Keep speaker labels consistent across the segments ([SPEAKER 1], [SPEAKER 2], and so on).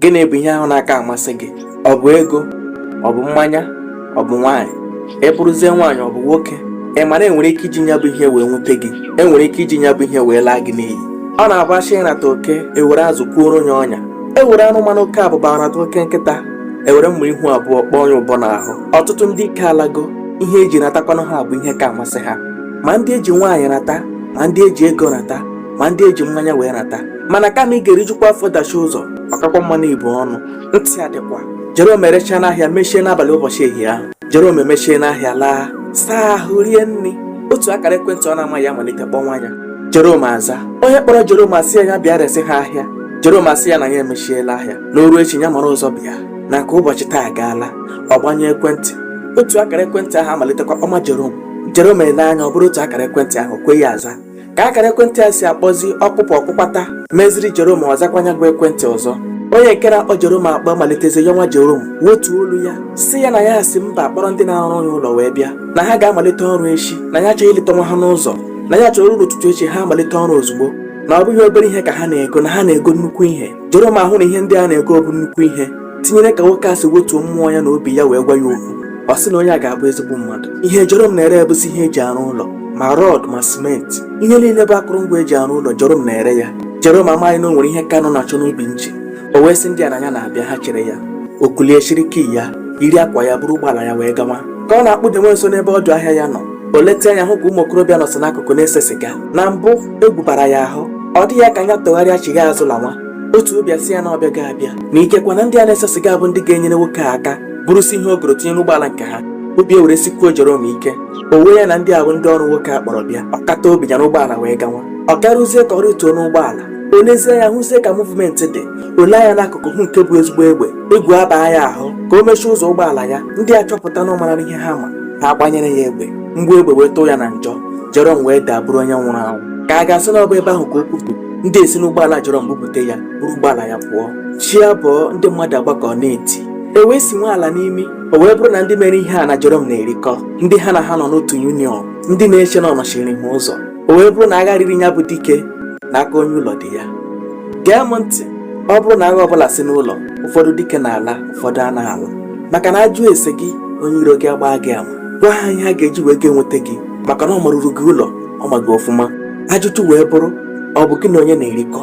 [SPEAKER 1] gịnị bụ ihe ahụ na-aka amasị gị ọ bụ ego ọ bụ mmanya ọ bụ nwaanyị ị bụrụzie nwaanyị ọ bụ nwoke ị mara enwere ike iji nya bụ ihe wee nwute gị enwere ike iji nya bụ ihe wee laa gị n'iyi ọ na-abụ achọọ ịrata oke ewere azụ kwuoro onye ọnya ewere anụmanụ oke abụba rata oke nkịta ewere mma ihu abụọ kpọọ onye ụbọ n'ahụ ọtụtụ ndị ike alago ihe eji ratakwanụ ha bụ ihe ka amasị ha ma ndị eji nwaanyị rata ma ndị eji ego rata ma ndị eji mmanya wee rata mana kama ị ga-erijukwa afọ dachi ụzọ ọ kakwa mma na ibu ọnụ ntị adịkwa Jerome erechaa n'ahịa mechie n'abalị ụbọchị ehihie ahụ Jerome emechie n'ahịa laa saa ahụ rie nri otu akara ekwentị ọ na-amaghị amalite kpọnwa ya Jerome aza onye kpọrọ Jerome asị ya ya bịa resị ha ahịa Jerome asị ya na ya emechiela ahịa n'oru echi ya mara ụzọ bịa na nke ụbọchị taa agaala ọ gbanyụọ ekwentị otu akara ekwentị ahụ amalitekwa kpọnwa Jerome Jerome ele anya ọ bụrụ otu akara ekwentị ahụ o kweghị aza ka akara ekwentị a si akpọzi ọkpụkpọ ọkpụkpata meziri Jerome ọ zakwa nya bụ ekwentị ọzọ onye nke a na-akpọ Jerome akpọ malitezie yọnwa Jerome wetuo olu ya sị ya na ya si mba kpọrọ ndị na-arụ ya ụlọ wee bịa na ha ga-amalite ọrụ echi na ya achọghị ileta nwa ha n'ụzọ na ya chọrọ oru ụtụtụ echi ha amalite ọrụ ozugbo na ọ bụghị obere ihe ka ha na-ego na ha na-ego nnukwu ihe Jerome ahụ na ihe ndị a na-ego bụ nnukwu ihe tinyere ka nwoke a si wetuo mmụọ ya na obi ya wee gwa ya okwu ọ sị na onye a ga-abụ ezigbo mmadụ ihe Jerome na-ere bụzi ihe eji arụ ụlọ ma rọd ma simenti ihe niile bụ akụrụngwa eji arụ ụlọ Jerome na-ere ya Jerome amaghị na o nwere ihe ka anụ na-achọ n'ubi nche o wee sị ndị a na ya na-abịa ha chere ya o kulie chịrị key ya yiri akwa ya buru ụgbọala ya wee gawa ka ọ na-akpudenwe nso n'ebe ọdụ ahịa ya nọ o leta anya hụ ka ụmụ okorobịa nọsị n'akụkụ na-ese siga na mbụ egwu bara ya ahụ ọ dị ya ka nya tụgharịa chigha azụ lanwa otu obi asị ya na ọbịa ga-abịa na ikekwa na ndị a na-ese siga bụ ndị ga-enyere nwoke a aka burusie ihe o goro tinye n'ụgbọala nke ha obi ewere sikwuo Jerome ike o wee ya na ndị a bụ ndị ọrụ nwoke a kpọrọ bịa ọ kata obi ya n'ụgbọala wee gawa ọ garuzie ka ọ rịtuo n'ụgbọala o lezie anya hụzie ka muvumenti dị o lee anya n'akụkụ hụ nke bụ ezigbo egbe egwu abaa ya ahụ ka o mechie ụzọ ụgbọala ya ndị a chọpụta na ọ mara ihe ha ma ha agbanyere ya egbe mgbọ egbe wee tụọ ya na njọ Jerome wee daa bụrụ onye nwụrụ anwụ ka a ga-asị na ọ bụ ebe ahụ ka o kwupụrụ ndị a esi n'ụgbọala Jerome bupụta ya buru ụgbọala ya pụọ chi abọọ ndị mmadụ agbakọ na-eti e wee sinwe ala n'imi o wee bụrụ na ndị mere ihe a na Jerome na-erikọ ndị ha na ha nọ n'otu yuniọn ndị na-eche na ọ nọchiri ha ụzọ o wee bụrụ na agha riri ya bụ dike n'aka onye ụlọ dị ya gee m ntị ọ bụrụ na agha ọbụla si n'ụlọ ụfọdụ dike na-ala ụfọdụ anaghị ala maka na a jụọ ese gị onye iro gị agbaa gị ama gwa ha ihe ha ga-eji wee ga nweta gị maka na ọ maruru gị ụlọ ọ ma gị ọfụma ajụjụ wee bụrụ ọ bụ gị na onye na-erikọ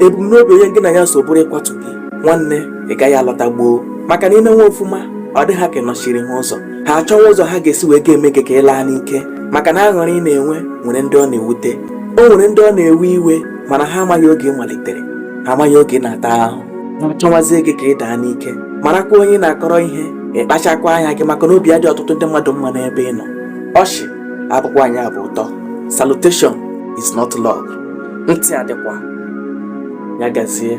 [SPEAKER 1] ebumnobi onye gị na ya so bụrụ ịkwatu gị nwanne ị gaghị alọta gboo maka na i mewe ọfụma ọ dị ha ka ị nọchiri ha ụzọ ha achọwa ụzọ ha ga-esi wee ga-eme gị ka ị laa n'ike maka na aṅụrị ị na-enwe nwere ndị ọ na-ewute o nwere ndị ọ na-ewe iwe mana ha amaghị oge ị malitere ha amaghị oge ị na-ata ahụ ha achọwazie gị ka ị daa n'ike marakwa onye ị na-akọrọ ihe ịkpachakwa anya gị maka na obi adị ọtụtụ ndị mmadụ mma n'ebe ị nọ ọchị abụkwa anyị abụ ụtọ salutation is not love ntị adịkwa ya gazie